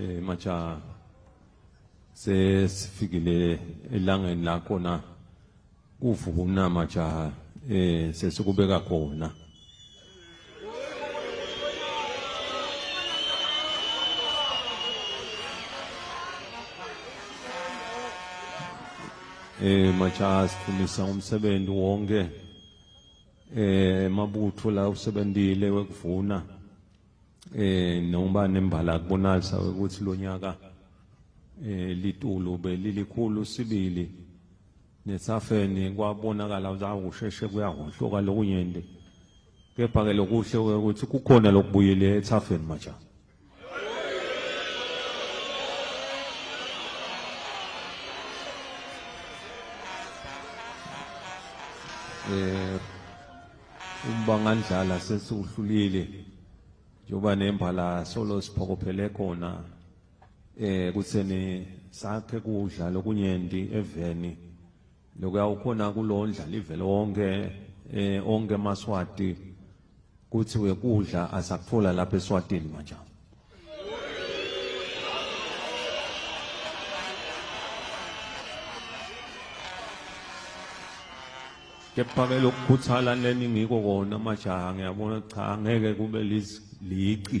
eh macha sesifikile elangeni lakho na kuvuka umnama jaha eh sesikubeka khona eh majaha siphumisa umsebenzi wonke eh mabutho la usebenzile wekuvuna eh noma nembala kubonalisa ukuthi lonyaka eh litulu belilikhulu sibili Nesafeni kwabonakala ukuthi awu kusheshe kuyahohloka lokunyenti. Kepha-ke lokuhle ukuthi kukhona lokubuyile ethafeni majaha. eh umbangandlala sesiwuhlulile njengoba nembala solo siphokophele khona eh kutheni sakhe kudla lokunyenti eveni lokuya ukhona kulondla livele wonke eh onke maswati kuthi wekudla asakuthola lapha eswatini manje kepha ke lokukhuthala leni ngiko kona majaha ngiyabona cha ngeke kube lizi liqi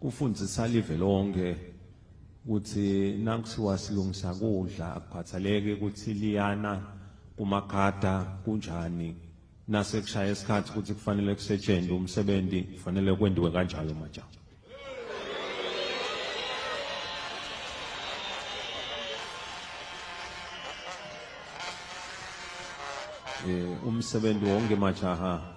kufundisa live lonke ukuthi nakuthiwa silungisa kudla akukhathaleki ukuthi liyana kumakhada kunjani nasekushaya isikhathi ukuthi kufanele kusetshenzwe umsebenzi kufanele kwendiwe kanjalo majama eh umsebenzi wonke majaha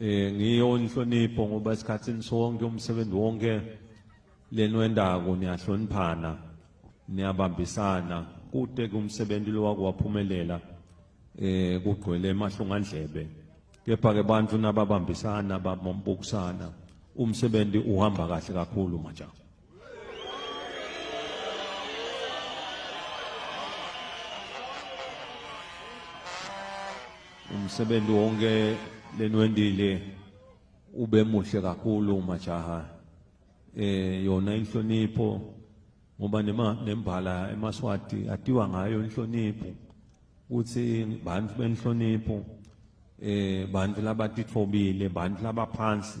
eh ngiyo inhlonipho ngoba esikhathini sonke umsebenzi wonke lenwendako niyahloniphana niyabambisana kude kumsebenzi lo wakwaphumelela eh kugcwele emahlongandlebe kepha ke bantu nababambisana babombukusana umsebenzi uhamba kahle kakhulu manje umsebenzi wonke lenwendile ube muhle kakhulu majaha eh yona inhlonipho ngoba nema nembala emaswati atiwa ngayo inhlonipho ukuthi bantu benhlonipho eh bantu labatithobile bantu labaphansi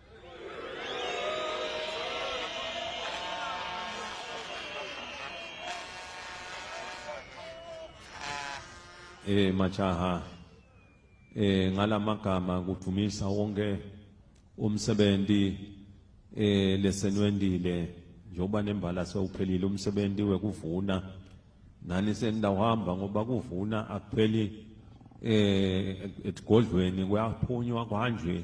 eh majaha eh ngalamagama kudumisa wonke umsebenzi eh lesenwendile njoba nembala sewuphelile umsebenzi wekuvuna nani senidawuhamba ngoba kuvuna akupheli eh egodlweni kuyaphunywa kanje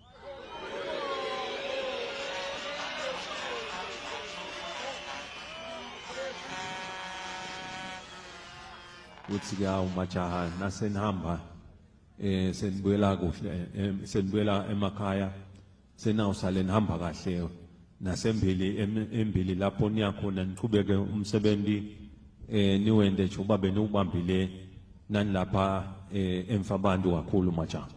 uthi ke awu majaha nasenihamba eh senibuyela kuhle eh, senibuyela emakhaya senawusale nihamba kahle nasembili embili lapho niya khona niqhubeke umsebenzi eh niwende nje uba beniwubambile nanilapha eh emfa abantu kakhulu majama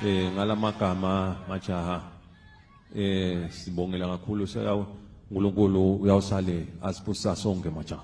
eh ngalamagama majaha eh sibongela kakhulu uNkulunkulu uyawusale asiphusa sonke majaha